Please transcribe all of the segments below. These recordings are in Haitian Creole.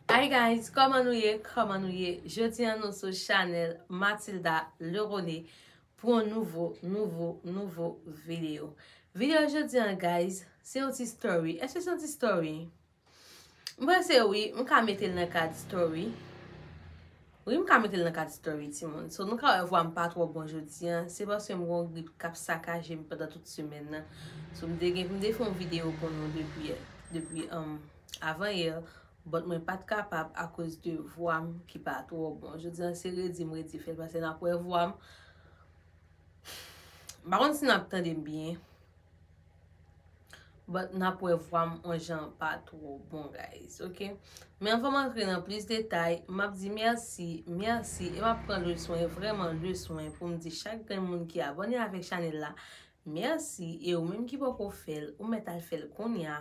Hi guys kòman nou ye kòman nou ye jodi an nou sou chanèl Matilda Lerone pou yon nouvo nouvo nouvo video video jodi an guys se yon ti story eske se yon ti story mwen se wi m ka metel nan kad story Wi m ka metel nan kad story timoun. So nou ka wè vwam pa twò bon jodi an, se paske m gon grip kap sakajem pandan tout semèn nan. So m te gen pou m te fè yon video pou nou depi depi avan yè, but mwen pat kapab akoz de vwam ki pa twò bon. Jodi an se redi m redi fèl paske nap wè vwam m pa konn si nap tandem byen. But nap wè vwam on jan pa two bon guys ok. Men anvanm antre nan plis detay map di merci merci e map pran le swen vreman le swen poum di chak grenn moun ki abone avek chanel la merci e ou menm ki poko fèl ou mèt al fèl kounya.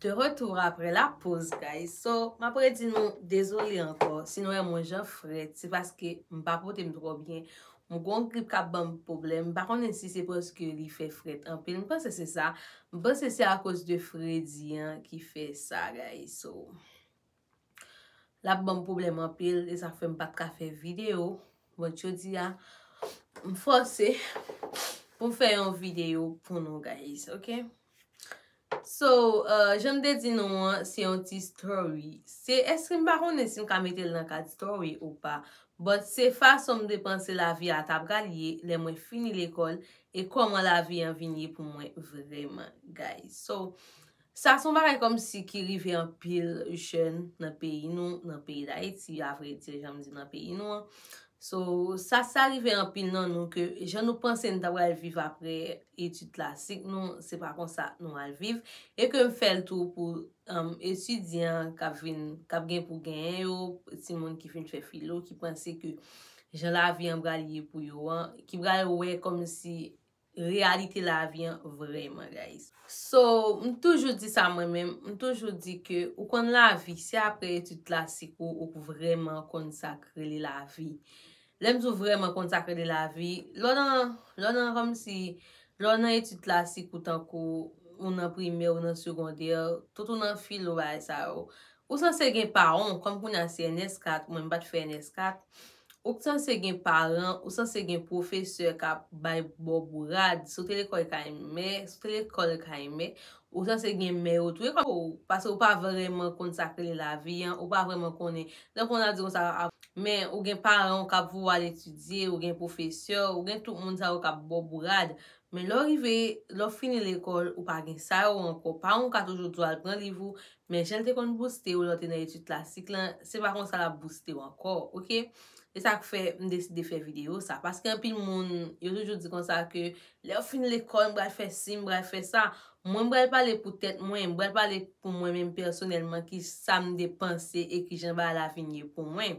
De retour apre la poz guys so map redi nou dezole ankò si nou wè mwen jan frèt se paske m pa pote m twò byen m gon grip kap banm pwoblèm m pa konnen si se paske li fè frèt anpil m panse se sa m panse se akoz de fredi an ki fè sa guys so. L ap ban m pwoblèm anpil. E sa fè m pa t ka fè videyo. Bon, jodi a, m fòse pou m fè yon videyo pou nou guys, ok? So, jan m te di nou an, se yon ti story. Se, èske m pa konnen si m ka mete l nan kad story ou pa. But, se fason m te panse lavi a ta pral ye lè mwen fini lekòl e kòman lavi an vin ye pou mwen vreman guys. So, Sa son bagay kòmsi ki rive anpil jèn nan peyi nou, nan peyi Dayiti a vre di janm di nan peyi nou an. So, sa sa rive anpil nan nou ke jan nou panse nou ta pral viv apre etid klasik nou, se pa konsa nou al viv. E ke m fèl tou pou etidyan kap vin, kap gen pou genyen yo, timoun ki fin fè filo ki panse ke jan lavi an pral ye pou yo an, ki pral wè kòmsi reyalite lavi an vrèman guys. So m toujou di sa mwen menm, m toujou di ke ou konn lavi se aprè etid klasik ou ou k vrèman konn sa k rele lavi. Lè m di w vrèman konn sa k rele lavi, lè w nan, lè w nan kòmsi, lè w nan etid klasik ou tankou ou nan primè ou nan segondè, tout ou nan filo bagay sa yo, Ou sanse gen paon, kòm kounye a se NS 4, mwen m pa t fè NS 4, ou k sanse gen paran, ou sanse gen pwofesè k ap bay bo bourad, si w te lekòl kay mè, si w te lekòl kay mè, ou sanse gen mè yo tou, e kòm ou, pase ou pa vrèman konn sa k rele lavi an, ou pa vrèman konnen, lè w konnen a di kon sa, men ou gen paran w k ap voye w al etidye, ou gen pwofesè, ou gen tout moun sa yo k ap bo bourad, men lè w rive, lè w fini lekòl, ou pa gen sa yo ankò, paran w ka toujou di w al pran liv ou, Men jan l te konn bouste ou lè w te nan etid klasik lan, se pa konsa l ap bouste w ankò ok. E sa k fè m deside fè videyo sa. Paske anpil moun yo toujou di konsa ke lè yo fin lekòl m pral fè si, m pral fè sa. Mwen m pral pale pou tèt mwen, m pral pale pou mwen menm pèsonèlman ki sa m te panse e ki jan bagay la vin ye pou mwen.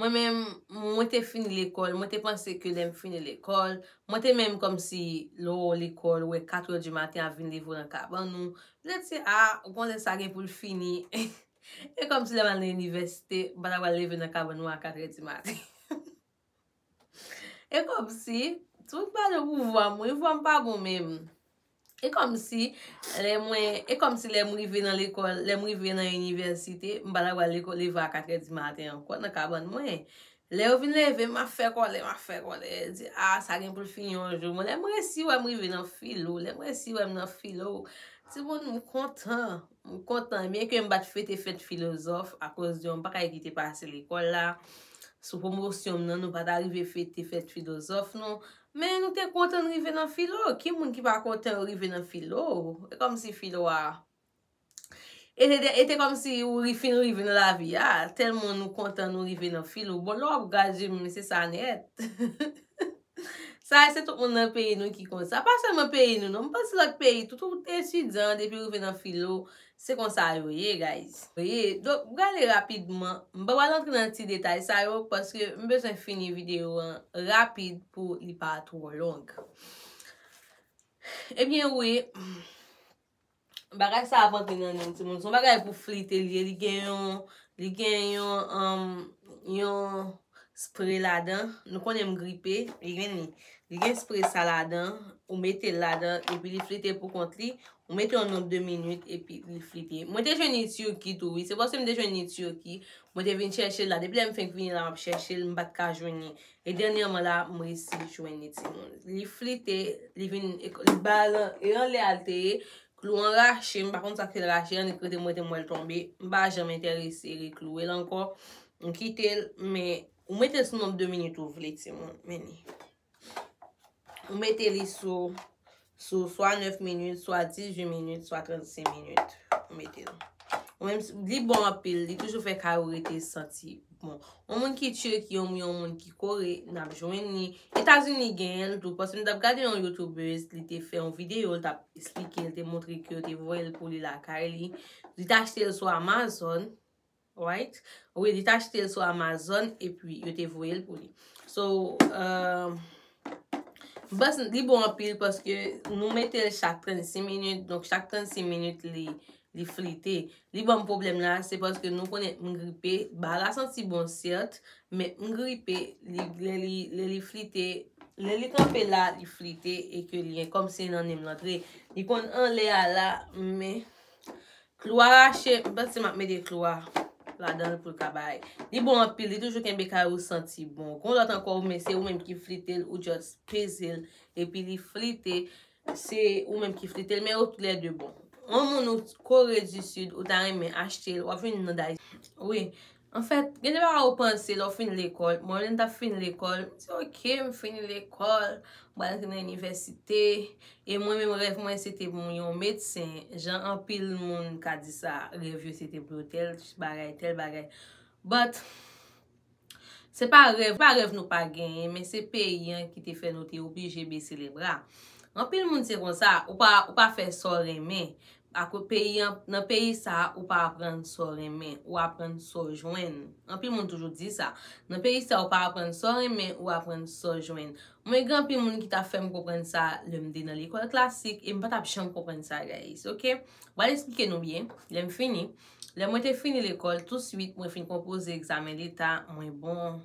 Mwen menm, mwen te fini lekòl, mwen te panse ke lè m fini lekòl, mwen te menm kòm si lè w lekòl, ou wè katrè di maten ap vin leve w nan kabann ou, petèt se a, ou panse sa gen pou l fini, e kòm si lè m al nan inivèsite, m pa ta pral leve nan kabann mwen a katrè di maten. E komsi, tou m pale pou vwa m wi, vwa m pa bon menm. E komsi, lè mwen, e komsi lè m rive nan lekòl, lè m rive nan inivèsite, m pa ta pral lekòl leve a katrè di maten ankò nan kabann mwen. Lè yo vin leve m, m ap fè kòlè, m ap fè kòlè. Yo di, a, sa gen pou l fini yon jou. Bon, lè m resi wè m rive nan filo, lè m resi wè m nan filo, timoun m kontan. M kontan byen ke m pa t fete fèt filozòf akoz yon bagay ki te pase lekòl la. Sou pwomosyon m nan nou pa ta rive fete fèt filozòf nou. Men nou te kontan n rive nan filo. Ki moun ki pa kontan yo rive nan filo? E kòmsi filo a. E te kòmsi ou fin rive nan lavi a. Tèlman nou kontan nou rive nan filo. Bon lè w ap gade je m se sa nèt. Sa a se tout moun nan peyi nou ki konsa. Pa sèlman peyi nou non, m panse lòt peyi tou, tout etidyan depi rive nan filo, se konsa yo ye guys. Ye, donk m prale rapidman, m pa pral antre nan ti detay sa yo paske m bezwen fini videyo an rapid pou li pa twò long. Ebyen wi. Bagay sa ap antre nan nen'm timoun. Son bagay pou flite li ye. Li gen yon, li gen yon, um, yon spray ladan. Nou konnen m gripe. Li gen li. Li gen spray sa ladan. Ou mete ladan. Epi li flite pou kont li. Ou mete yon nonb de minit. Epi li flite. Mwen te jwenn li Turquie tou wi. Se paske m te jwenn li Turquie. Mwen te vin chèche la. Depi lè m fenk vini la m ap chèche l. M pat ka jwenn li. E dènyèman la m resi jwenn li timoun. Li flite, li vin, li bal, e anlè a li te ye, klou an rache, m pa konn sa k fè l rache an, li prete mwen te m wè l tonbe, m pa janm enterese rekloure l ankò, m kite l, men, ou mete l sou nonb de minit ou vle timoun, men ni. Ou mete li sou Sou swa 9 minit, swa 18 minit, swa 36 minit. Ou mete l. Ou menm si, li bon anpil. Li toujou fè kay ou rete santi bon. Yon moun ki Turquie ou yon moun ki Kore, n ap jwenn li. Etazini genyen l tou. Paske m t ap gade yon youtubeuse, li te fè yon videyo, li t ap esplike, li te montre ke yo te voye l pou li lakay li. Li te achte l sou Amazon. Alright wi li t achte l sou amazon epi yo te voye l pou li so m panc li bon anpil paske nou mete l chak 36 minit donk chak 36 minit li flite li banm pwoblèm la se paske nou konnen m gripe ba la santi bon sèt men m gripe lè li flite lè li kanpe la li flite e ke li kòmsi nan ni m l antre li konn anlè a la men Klou a rache, m panse map mete klou a ladanl poul ka bay. Li bon anpil, li toujou kenbe kay ou santi bon. Gon lòt ankò ou men se ou menm ki flitel ou just pezel epi li flite se ou menm ki flitel men yo tou lè 2 bon. Yon moun ou kore di sid ou ta renmen achtel wap vini nan dayiti wi. Anfèt, gen de bagay ou panse lè ou fin lekòl. Bon, lè m t ap fin lekòl, m di ok, m fini lekòl, m pral antre nan inivèsite. E mwen menm rèv mwen se te pou m yon medsen, jan anpil moun ka di sa, rèv yo se te pou yo tèl bagay, tèl bagay. But, se pa rèv nou pa genyen, men se peyi an ki te fè nou te oblije bese lebra. Anpil moun se konsa, ou pa fè sa w renmen. Ako peyi an, nan peyi sa a ou pa aprann sa w renmen, ou aprann sa w jwenn. Anpil moun toujou di sa. Nan peyi sa a ou pa aprann sa w renmen, ou aprann sa w jwenn. Mwen gen anpil moun ki ta fè m konprann sa lè m te nan lekòl klasik e m pa t ap janm konprann sa guys ok. M pral esplike nou byen lè m fini. Lè mwen te fini lekòl touswit mwen fin konpoze egzamen leta mwen bon.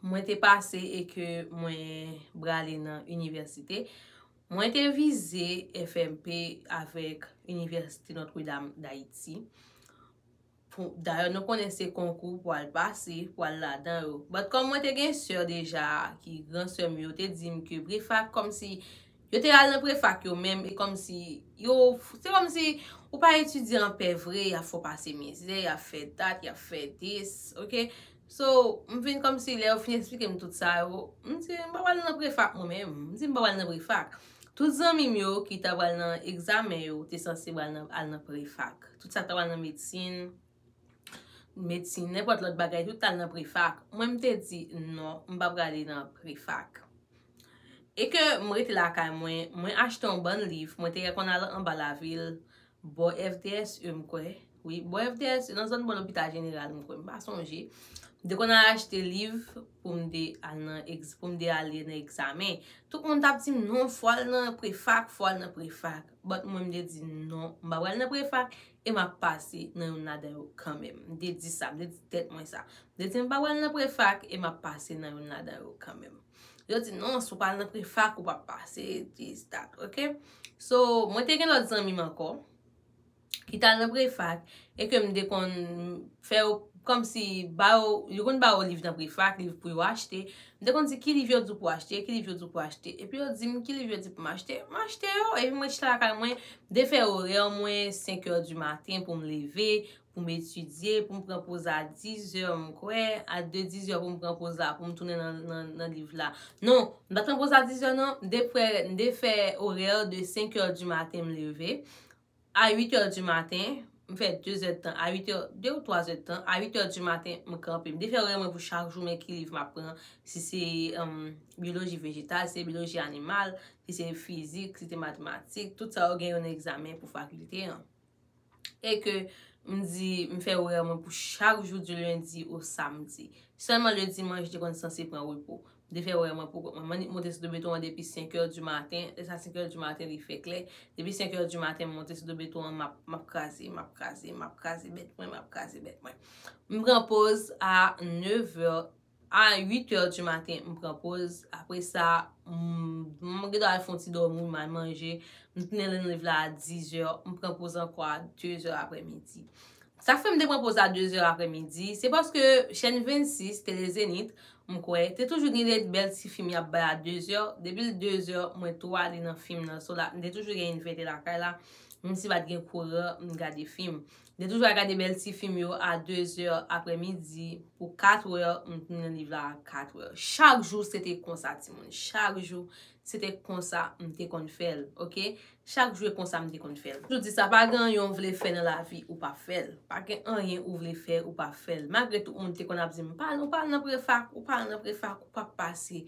Mwen te pase e ke mwen brale nan inivèsite. Mwen te vize FMP avèk Inivèsite Notre Dame d'Haiti. Dayè nou konnen se konkou pou al pase, pou al ladan yo. Bat kòm mwen te gen sè deja ki gran sè m yo te di m ke prefak kòm si yo te al nan prefak yo menm e kòm si yo se kòm si ou pa etidye anpè vre ya fè w pase mizè, ya fè dat, ya fè dis. So, m vin kòmsi lè yo fin esplike m tout sa yo, m di m pa pral nan prefak mwen menm. M di m pa pral nan prefak. Tout zanmi m yo ki ta pral nan egzamen yo te sanse pral nan al nan prefak. Tout sa k ta pral nan medsin, medsin, nenpòt lòt bagay tout t al nan prefak. Mwen m te di non, m pa prale nan prefak. E ke m rete lakay mwen, mwen achte yon bann liv, mwen te rekonn al anba lavil, Bò FDSE m kwè wi. Bò FDSE nan zòn bò lopita jeneral m kwè m pa sonje. M te konn al achte liv pou m te al nan egz pou m te ale nan egzamen. Tout moun t ap di m non fò al nan prefak fò al nan prefak. Bòt mwen m te di non m pa pral nan prefak e m ap pase nan youn ladan yo kanmèm. M te di sa m te di tèt mwen sa. M te di m pa pral nan prefak e m ap pase nan youn ladan yo kanmèm. Yo di non si w pa al nan prefak ou pap pase this that ok So mwen te gen lòt zanmi m ankò ki t al nan prefak e ke m te konn fè yo kòmsi ba yo yo konn ba yo liv nan prefak liv pou yo achte m te konn di ki liv yo di w pou w achte ki liv yo di w pou w achte epi yo di m ki liv yo di pou m achte m achte yo epi mwen chita lakay mwen de fè orè mwen senkè di maten pou m leve pou m etidye, pou m pran poz a dizè m kwè, a de dizè pou m pran poz la pou m tounen nan liv la. Non, m pa t pran poz la dizè nan, m te fè, m te fè orè de senkè di maten m leve, a uitè di maten, m fè dezè de tan, a uitè, de ou twazè de tan, a uitè di maten m kanpe. M te fè orè mwen pou chak jou men ki liv m ap pran, si se bioloji vejetal, si se bioloji animal, si se fizik, si se matematik, tout sa yo gen yon egzamen pou fakilte an. e ke m di m fè orè mwen pou chak jou di lendi o samdi. Sèlman le dimanch m te konn sanse pran repo. M te fè orè mwen pou kont mwen. M annik monte sou do beton an depi 5 è di maten, lè sa 5 è di maten li fè klè. Depi 5 è di maten m monte sou do beton an m ap kraze, m ap kraze, m ap kraze bèt mwen, m ap kraze bèt mwen. M pran poz a 9 è. A 8 heures du matin m pran poz, apre sa m gen dwa al fon ti domi, m al manje, m tounen nan live la a 10 heures, m pran poz anko a 2 heures apre midi. Sa k fè m te pran poz a 2 heures apre midi, se paske chèn 26, Tele Zenith, m kwè, te toujou gen de bèl ti fim y ap bay a 2 heures, depi l 2 heures mwen tou ale nan fim nan, so la m te toujou gen invite lakay la, menm si pa t gen kouran, m gade fim. Mte toujou al gade bèl ti fim yo a 2 zè aprè midi pou 4 wè m t nan liv la a 4 wè. Chak jou se te konsa timoun. Chak jou se te konsa m te konn fè l. Ok. Chak jou e konsa m te konn fè l. Toujou di sa, pa gen anyen ou vle fè nan lavi ou pa fè l. Pa gen anyen ou vle fè ou pa fè l. Malgre tout moun te konn ap di m pa al nan prefak, ou pa al nan prefak ou pap pase.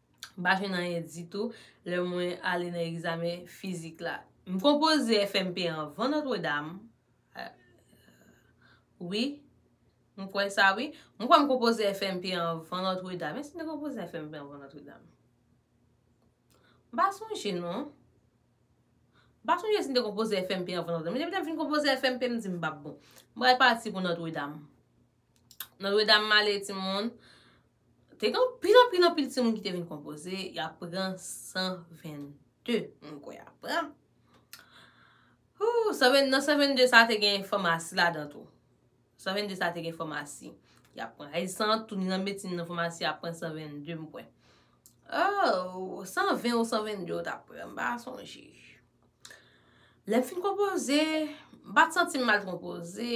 M pa jwenn anyen ditou lè mwen ale nan egzamen fizik la. M konpoze FMP anvan Notre Dame. Wi. M kwè sa wi. M kwè m konpoze FMP anvan Notre Dame. Èske m te konpoze FMP anvan Notre Dame? M pa sonje non. M pa sonje si m te konpoze FMP anvan Notre Dame. Men depi lè m fin konpoze FMP m di m m pa bon. M pral pati pou Notre Dame. Notre Dame m ale ti moun. Te gen anpil anpil anpil timoun ki te vin konpoze, y ap pran 122 mwen kwè a pran. Nan 122 sa te gen fòmasi ladan tou. 122 sa te gen fòmasi. Y ap pran ay san, tou ni nan medsin nan fòmasi y ap pran 122 mwen kwè. Ou, 120 ou 122 ou t ap pran, m pa sonje. Lè m fin konpoze, m pa t santi m mal konpoze.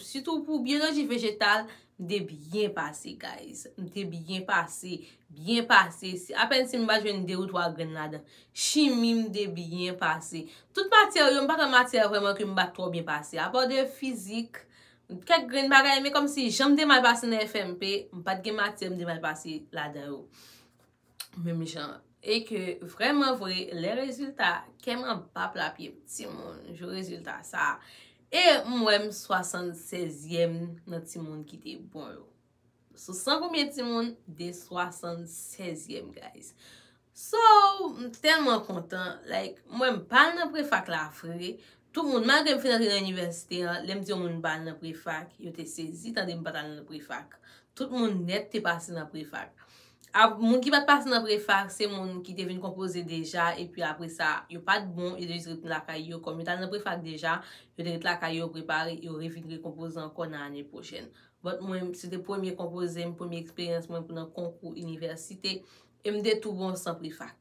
Sitou pou biyoloji vejetal, m te byen pase guys. M te byen pase. Byen pase. Apen si m pa jwenn 2 ou 3 grenn ladan. Chimi m te byen pase. Tout matyè yo, m pa gen matyè vreman ke m pa t twò byen pase. Apa de fizik, kèk grenn bagay men kòmsi jan m te mal pase nan FMP, m pa t gen matyè m te mal pase ladan yo. Menm jan e ke vrèman vre lè rezilta kèm anba pla pyem timoun jou rezilta sa e m wè m 76 yèm nan timoun ki te bon yo sou 100 konbyen timoun de 76 yèm guys so m tèlman kontan like m wè m pa al nan prefak la vre tout moun malgre m fin antre nan inivèsite an lè m di yon moun m pa al nan prefak yo te sezi tande m pa t al nan prefak tout moun nèt te pase nan prefak Moun ki pat pase nan prefak se moun ki te vin konpoze deja epi apre sa yo pat bon yo te jis ret lakay yo kòm yo t al nan prefak deja yo te ret lakay yo prepare yo revin rekonpoze ankò nan ane pwochèn but mwen se te premye konpoze m premye eksperyans mwen pou nan konkou inivèsite e m te tou bon san prefak.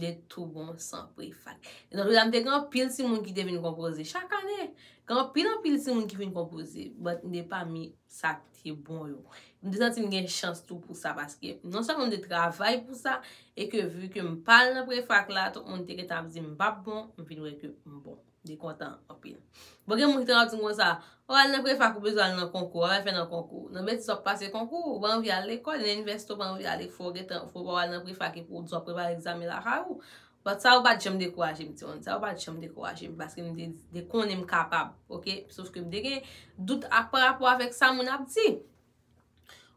De tou bon san prefak. E nan tou la m te gen anpil timoun ki te vin konpoze. Chak ane, gen anpil anpil timoun ki vin konpoze. But m te pami sa k te bon yo. M te santi m gen chans tou pou sa paske non sèlman m te travay pou sa e ke vu ke m pa al nan prefak la, tout moun te gentan ap di m m pap bon, m vin wè ke m bon. Li kontan anpil. Bon gen moun ki te ka di m konsa, ou al nan prefak ou bezwen al nan konkou, wap al fè nan konkou. Nan betiz wap pase konkou, ou pa anvi al lekòl, nan inivèsite ou pa anvi ale fò w gentan, fò w pa al nan prefak epi w di wap prepare egzamen lakay ou. But sa yo pat janm dekouraje m ti moun, sa yo pat janm dekouraje m paske m te de konnen m kapab ok. Sof ke m te gen dout ak pa rapò avèk sa moun ap di.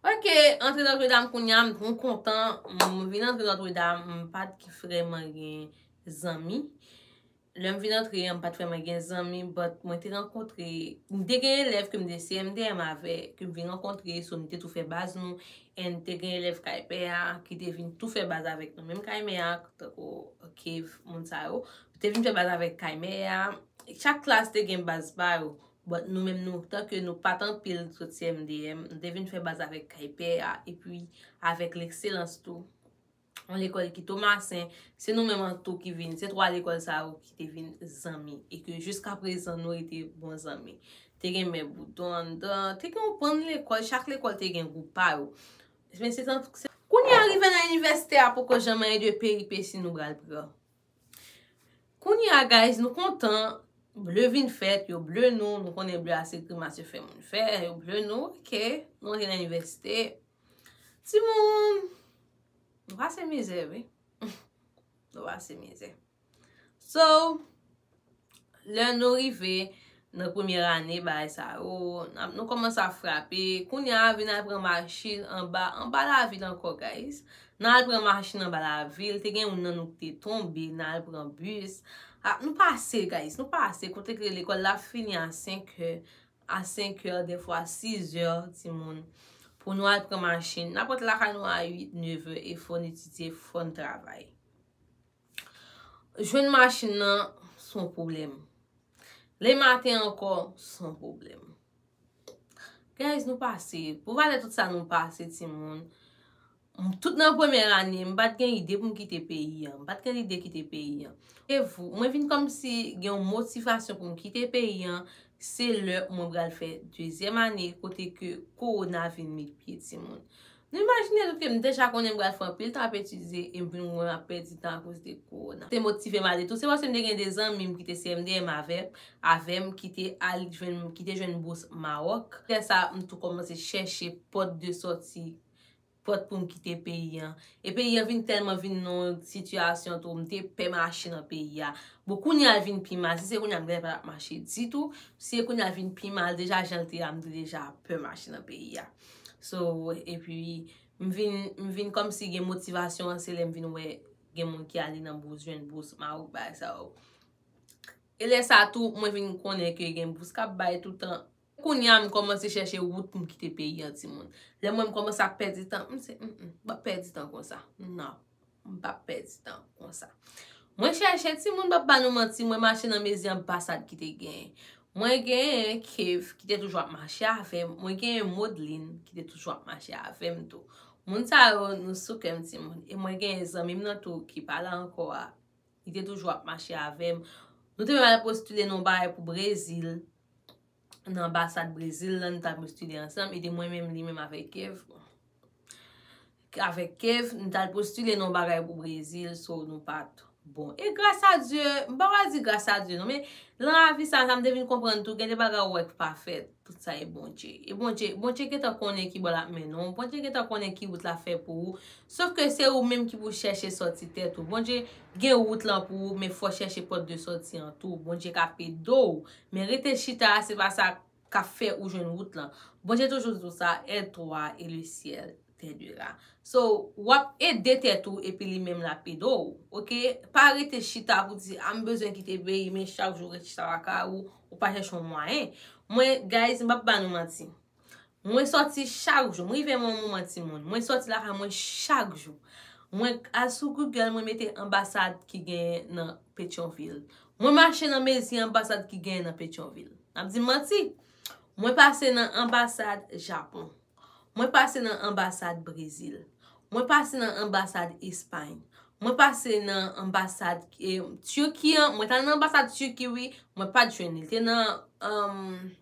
Ok, antre Notre Dame kounye a m twou kontan, m vin antre Notre Dame m pat vrèman gen zanmi. Lèm vin antre an m pat vrèman gen zanmi but mwen te rankontre m te gen elèv kem te CMDM avè kem vin rankontre so nou te tou fè baz nou and te gen elèv kay pè a ki te vin tou fè baz avèk nou menm kay mè a tankou Kev moun sa yo te vin fè baz avèk kay mè a chak klas te gen baz pa yo but nou menm nou tanke nou pat anpil sot CMDM nou te vin fè baz avèk kay pè a epi avèk Lekselans tou yon lekòl ki Tomasen, se nou menm an tou ki vin, se 3 lekòl sa yo ki te vin zanmi, e ke jiska prezan nou rete bon zanmi. Te gen Mè Boudon anndan, te gen yon bann lekòl, chak lekòl te gen gwoup pa yo. Kounye a rive nan inivèsite a poko janman gen de peripesi nou pral pran. Kounye a guys, nou kontan, ble vin fèt, yo ble nou, nou konnen ble a se grimas yo fè moun fè, yo ble nou, ok, nou antre nan inivèsite. Timoun! Nou pase mizè wi. Nou pase mizè. So, lè nou rive nan premye ane bay sa yo, nou komanse ap frape. Kounya vin al pran machin anba, anba lavil anko guys. Nan al pran machin anba lavil. Te gen yon nan nou ki te tonbe nan al pran bus. Nou pase guys, nou pase. Kote ke lekol la fini a 5 he. a 5 è, defwa 6 è, timoun, pou nou al pran machin. N ap ret lakay nou a 8, 9 è, e fò n etidye, fò n travay. Jwenn machin nan, s on pwoblèm. Le maten ankò, s on pwoblèm. Guys, nou pase. Pou valè tout sa nou pase, timoun, Tout nan premyè ane, m pa t gen ide pou m kite peyi an. M pa t gen lide kite peyi an. Mwen vin kòmsi gen yon motivasyon pou m kite peyi an, se lè mwen pral fè dezyèm ane kote ke kowona vin met pye timoun. Nou imajine nou ke m deja konnen m pral fè anpil tan ap etidye e m vin wè m ap pèdi tan akoz de kowona. Te motive m ale tou se paske m te gen de zanmi m ki te CMDM avè m ki te al jwenn, ki te jwenn bous Mawòk. Lè sa a, m tou kòmanse chèche pòt de sòti pòt pou m kite peyi an. E peyi an vin tèlman vin nan yon sitiyasyon tou, m te pè mache nan peyi a. Bon, kounye a l vin pi mal. Si se kounye a, m genlè pa t ap mache ditou. Si se kounye a, l vin pi mal. Deja, jan l te a, m te deja pè mache nan peyi a. So, epi, m vin, m vin kòmsi gen motivasyon an se lè m vin wè gen moun ki ale nan bous, jwenn bous, marouk, bagay sa yo. E lè sa tou, mwen vin konnen ke gen bous k ap bay toutan. Kounya m kòmanse chèche wout pou m kite peyi an ti moun. Lè m wè m kòmanse ap pèdi tan, m se, m p ap pèdi tan konsa. Non, m p ap pèdi tan konsa. Mwen chèche ti moun, m p ap ba nou manti, mwen mache nan mezi anbasad ki te genyen. Mwen genyen Kev ki te toujou ap mache avè m, mwen genyen Modeline ki te toujou ap mache avè m tou. Moun sa yo, nou sou kè m ti moun. E mwen genyen zanmi m nan tou ki pa la ankò a, li te toujou ap mache avè m. Nou te menm al postile nou bagay pou Brezil. nan anbasad Brezil la, nou ta vin stidye ansanm, e te mwen menm, li menm avèk Kev. Avèk Kev, nou ta al postile nan yon bagay pou Brezil, so nou pat bon. E gras a Dye, m pa pral di gras a Dye non, men, lan lavi sa, sa m te vin konprann tou, gen de bagay ou wè k pa fèt, tout sa e Bondje. E Bondje, Bondje gentan konnen ki bò l ap mennen w, Bondje gentan konnen ki wout l ap fè pou ou, Sof ke se ou menm ki pou chèche sòti tèt ou. Bondye gen wout lan pou ou men fò chèche pòt de sòti an tou. Bondye ka pede w men rete chita a se pa sa kap fè ou jwenn wout lan. Bondye toujou di w sa aide toi et le ciel t'aidera. So wap ede tèt ou epi li menm lap ede w ok. Pa rete chita pou di a m bezwen kite peyi men chak jou ret chita lakay ou ou pa chèche yon mwayen. Mwen guys m pap ba nou manti. Mwen sòti chak jou. M rive yon moman ti moun. Mwen sòti lakay mwen chak jou. Mwen al sou Google mwen mete anbasad ki genyen nan Petyonvil. Mwen mache nan mezi anbasad ki genyen nan Petyonvil. N ap di m manti? Mwen pase nan anbasad Japon. Mwen pase nan anbasad Brezil. Mwen pase nan anbasad Espay. Mwen pase nan anbasad Tiki an. Mwen t al nan anbasad Tiki wi. Mwen pa t jwenn li. Li te nan.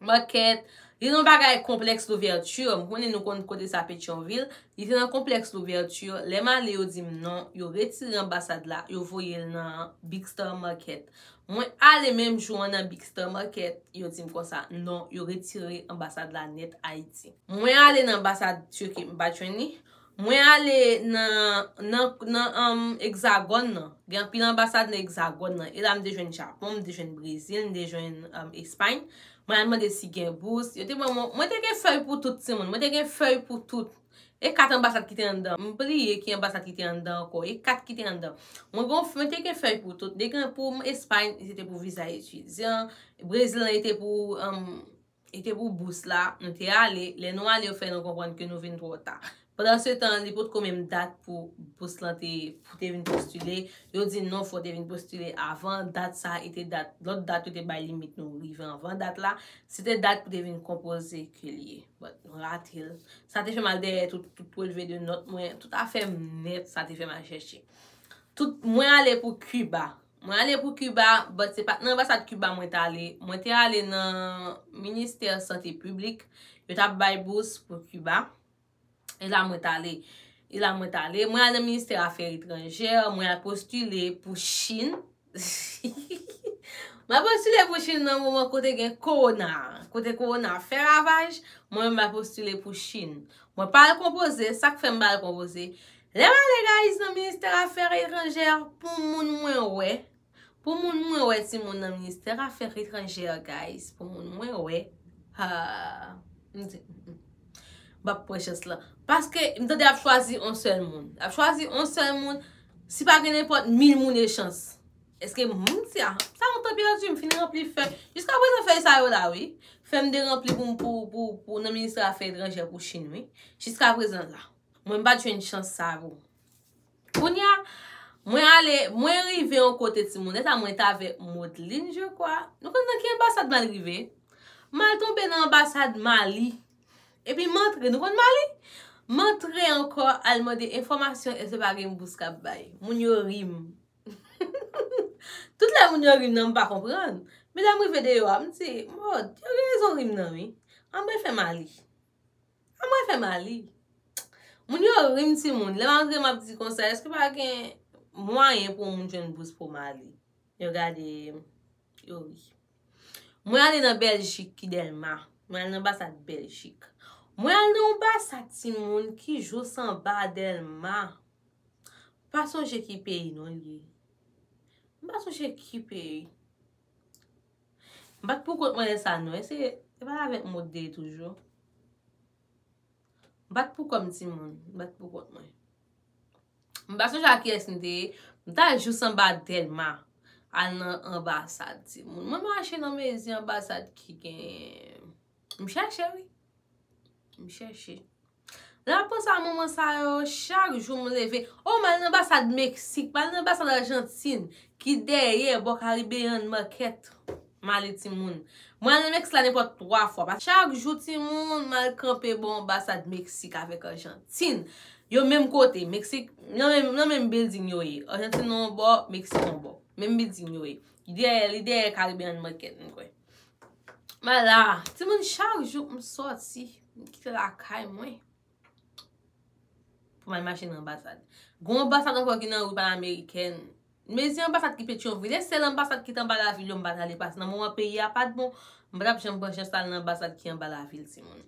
Market, Li nan bagay Complexe Louverture, m konnen nou konn kote sa Petyonvil, li te nan Complexe Louverture, lè m ale yo di m non, yo retire anbasad la, yo voye l nan Big Star Market. Mwen ale menm jou an nan Big Star Market, yo di m konsa, non, yo retire anbasad la nèt Ayiti. Mwen ale nan anbasad Turquie, m pa t jwenn li, Mwen ale nan Hexagone nan. Gen anpil anbasad nan Hexagone nan. E la m te jwenn Japon, m te jwenn Brezil, m te jwenn Espay. Mwen al mande si gen bous. Yo te ban mwen. Mwen te gen fèy pou tout timoun. Mwen te gen fèy pou tout. E kat anbasad ki te anndan. M bliye ki anbasad ki te anndan ankò. E kat ki te anndan. Mwen te gen fèy pou tout. Degen pou Espay, se te pou viza etidyan. Brezil nan, se te pou. E te pou bous la, nou te ale, lè nou ale yo fè nou konprann ke nou vin twò ta. Pandan se tan, li potko menm dat pou bous lan te, pou te vin postile, yo di non fò te vin postile avan dat sa e te dat, lòt dat yo te bay limit nou rive anvan dat la, se te dat pou te vin konpoze ke li ye. But, nou rate l. Sa te fè m al dèyè tout, tout relve de nòt mwen, tout afè m nèt, sa te fè m al chèche. Tout, mwen ale pou Kiba, Mwen ale pou Kiba, but se pat nan anbasad Kiba mwen t ale, mwen te ale nan Ministè Sante Piblik, yo t ap bay bous pou Kiba, e la mwen t ale. E la mwen t ale, mwen al nan Ministè Afè Etranjè, mwen al postile pou Chin, mwen al postile pou Chin nan moman kote gen Kowona a, kote Kowona a fè ravaj, mwen menm mwen al postile pou Chin. Mwen pa al konpoze, sa k fè m pa al konpoze, Lè m ale guys nan ministère affaires étrangères pou moun mwen wè pou moun mwen wè ti moun nan ministère affaires étrangères guys pou moun mwen wè haa m di m pap pran chans lan paske m tande yap chwazi yon sèl moun yap chwazi yon sèl moun si pa gen nenpòt mil moun e chans eske m m di a sa yon tan pèdi m fin ranpli fèy jiska prezan fèy sa yo la wi fèy m te ranpli pou pou pou nan ministère affaires étrangères pou chine wi jiska prezan la. Mwen pat jwenn chans sa vre. Kounya mwen ale, mwen rive yon kote timoun. Eta mwen ta avèk Modeline je kwa. Nou konn nan ki anbasad mwen al rive? Mwen al tonbe nan anbasad Mali. Epi m antre, nou konn Mali? M antre ankò al mande enfòmasyon èske pa gen bous k ap bay. Moun yo ri m. Tout lè moun yo ri m nan m pa konprann. Men lè m rive deyò a, m di, Mòd, yo gen rezon ri m nan wi. An mwen fè Mali. An mwen fè mali. Moun yo rim ti moun. Lè malgre map di konsa eske pa gen mwayen pou moun jwenn bous pou mali. Yo gade yo ri. Mwen ale nan Beljik ki delma. Mwen ale nan anbasad Beljik. Mwen ale nan anbasad ti moun ki jous anba delma. Pa sonje ki peyi non li ye. Mwen pa sonje ki peyi. M pat poukont mwen lè sa non. Eske e pa avèk mou te ye toujou? M pat poukò m ti moun. M pat poukont mwen. M pa sonje ak kiyès m te ye. M ta jous anba Dèlma. Al nan anbasad ti moun. Mwen mache nan mezi anbasad ki gen. M chache wi. M chache. Lap konsa moman sa yo chak jou m leve oh m al nan anbasad mexique m al nan anbasad argentine ki dèyè bò caribbean market m ale timoun mwen al nan mexique la nenpòt 3 fwa paske chak jou timoun m al kanpe bò anbasad mexique avèk argentine yo menm kote mexique nan menm nan menm building yo ye argentine yon bò mexique yon bò menm building yo ye li dèyè li dèyè caribbean market m kwè m al la timoun chak jou m sòti. M kite lakay mwen. Pou m al mache nan anbasad. Gon anbasad ankò ki nan rue pan amerikèn. Mezi anbasad ki Petyonvil. E sèl anbasad ki t anba lavil yo m pa t ale. Paske nan moman peyi a pa t bon. M pa t ap janm pran chans pou m al nan anbasad ki anba lavil ti moun.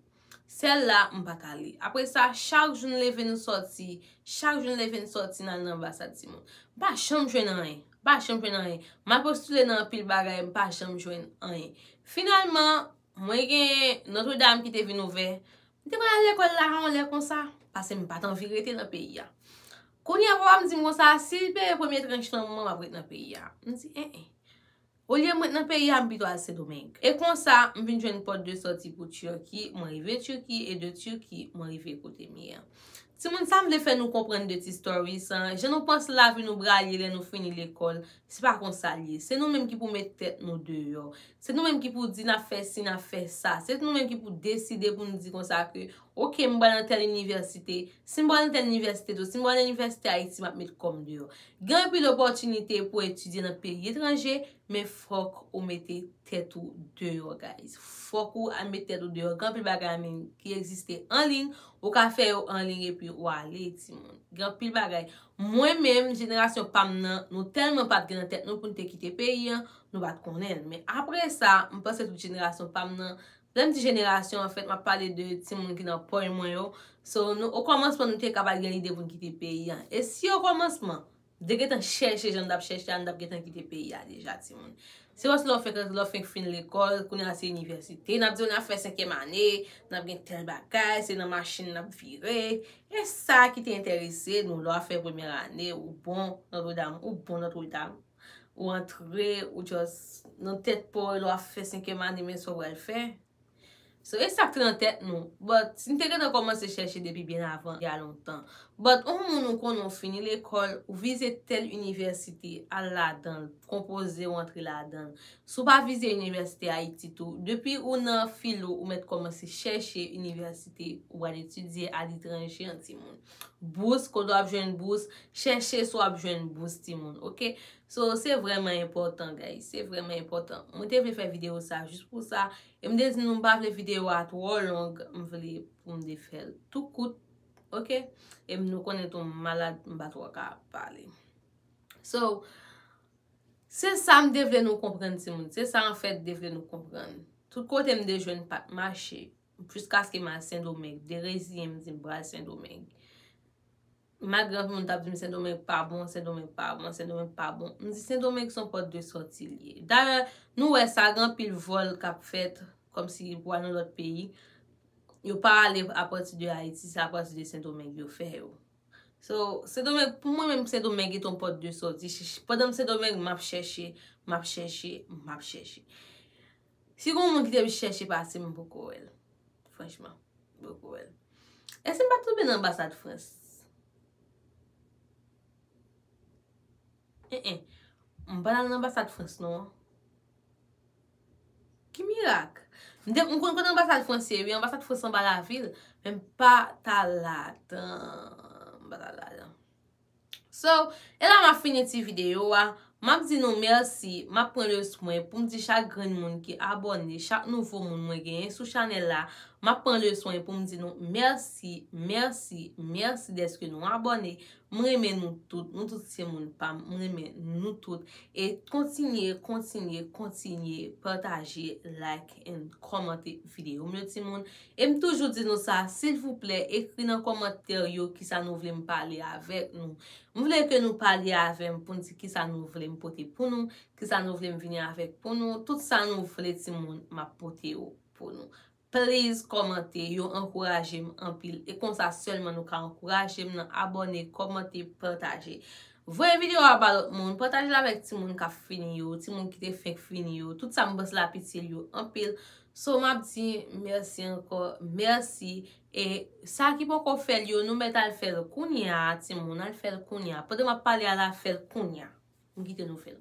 Sèl la m pa t ale. Apre sa chak jou n leve nou soti. Chak jou n leve n soti n al nan anbasad ti moun. M pa janm jwenn anyen. M pa janm jwenn anyen. M al postile nan anpil bagay m pa janm jwenn anyen. Finalman. Mwen gen Notre Dame ki te vin ouvè. M te konn al lekòl la yon lè konsa, pase m pa t anvi rete nan peyi a. Kounye a papa m di m konsa, si l peye premye tranch nan mwen m ap ret nan peyi a. M di en en. Olye m ret nan peyi a, m pito al Sendomeng. E konsa, m vin jwenn pòt de sòti pou Turki, mwen rive Turki, e de Turki, mwen rive kote m ye an. Timoun, sa m vle fè nou konprann de ti story san, jan nou panse lavi nou bral ye lè nou fini lekòl, Se pa konsa l ye. Se nou menm ki pou met tèt nou deyò. Se nou menm ki pou di n ap fè si, n ap fè sa. Se nou menm ki pou deside pou nou di konsa ke, ok, m pral nan tèl inivèsite. Si m pral nan tèl inivèsite tou, si m pral nan inivèsite Ayiti, m ap met kò m deyò. Gen anpil opòtinite pou etidye nan peyi etranje, men fòk ou mete tèt ou deyò guys. Fòk ou al met tèt ou deyò. Gen anpil bagay an liy ki egziste an liy. Ou ka fè yo an liy epi ou ale timoun. Gen anpil bagay. Mwen menm, jenerasyon pa m nan, nou tèlman pa t gen nan tèt nou pou n te kite peyi an, nou pa t konnen l. Men apre sa, m panse tout jenerasyon pa m nan, lè m di jenerasyon, anfèt m ap pale de timoun ki nan pòy mwen yo, so nou okòmansman nou te ka pa t gen lide pou n kite peyi an. E si okòmansman, m te gentan chèche jan m t ap chèche a, m t ap gentan kite peyi a deja timoun. Se paske lè w fenk rantre, lè w fenk fin lekòl, kounye a se inivèsite, n ap di w n ap fè senkyèm ane, n ap gen tèl bagay, se nan machin n ap vire, E sa ki te enterese nou lè w ap fè premyè ane ou bon notre dame ou bon notre dame ou antre ou just nan tèt pa w lè w ap fè senkyèm ane men sa w pral fè so e sa k te nan tèt nou but nou te gentan kòmanse chèche depi byen avan ya lontan but on moun ou konnen ou fini lekòl ou vize tèl inivèsite al ladan l konpoze ou antre ladan l Si w pa vize inivèsite Ayiti tou, depi ou nan filo ou mèt kòmanse chèche inivèsite ou pral etidye aletranje an timoun. Bous, kote w ap jwenn bous, chèche si w ap jwenn bous timoun ok. So se vrèman enpòtan guys, se vrèman enpòtan. Mwen te vle fè videyo sa jis pou sa, e m te di nou m pa vle videyo a twò long, m vle pou m te fè l tou kout ok. E m nou konnen tou m malad m pa twò ka pale. So. Se sa m te vle nou konprann timoun. Se sa anfèt m te vle nou konprann. Tout kote m te jwenn pa t mache. Jiskaske m al Sendomeng. M te reziyen m di m pral Sendomeng. Malgre anpil moun t ap di m Sendomeng pa bon, Sendomeng pa bon, Sendomeng pa bon. M di Sendomeng se yon pòt de sòti li ye. Dayè, nou wè sa, gen anpil vòl k ap fèt kòmsi pou al nan lòt peyi. Yo pa ale apati de Ayiti. Se apati de Sendomeng yo fè yo. So, Sendomeng, pou mwen menm Sendomeng et on pòt de sòti. Pandan m Sendomeng, m ap chèche, m ap chèche, m ap chèche. Si gon moun ki te m chèche pase m, m poko wè l. Franchman, m poko wè l. E si m pa tonbe nan anbasad Frans? Enh enh, m pa t al nan anbasad Frans non. Ki mirak? M te m konn kote anbasad frans ye wi, anbasad frans anba lavil, men m pa t al ladan. M pa t al ladan. So, e la m ap fini ti videyo a. M ap di nou mèsi, m ap pran le swen pou m di chak grenn moun ki abòne, chak nouvo moun mwen genyen sou chanèl la, m ap pran le swen pou m di nou mèsi, mèsi, mèsi dèske nou abòne. M renmen nou tout, nou tout se moun pa m, m renmen nou tout e kontinye, kontinye, kontinye pataje, like and kòmante videyo m yo timoun e m toujou di nou sa silvouplè ekri nan kòmantè yo kisa nou vle m pale avèk nou m vle ke nou pale avè m pou n di kisa nou vle m pote pou nou kisa nou vle m vini avèk pou nou tout sa nou vle timoun m ap pote yo pou nou. Please kòmante, yo ankourajem anpil e konsa sèlman nou ka ankourajem nan abòne, kòmante, pataje. Voye video a ba lòt moun, patajel avèk timoun kap fini yo, timoun ki te fenk fini yo, tout sa m panse lap itil yo anpil. So map di mèsi ankò, mèsi e sa ki poko fèl yo nou mèt al fèl kounya timoun, al fèl kounya. Pandan map pale a la fèl kounya. M kite nou fèl.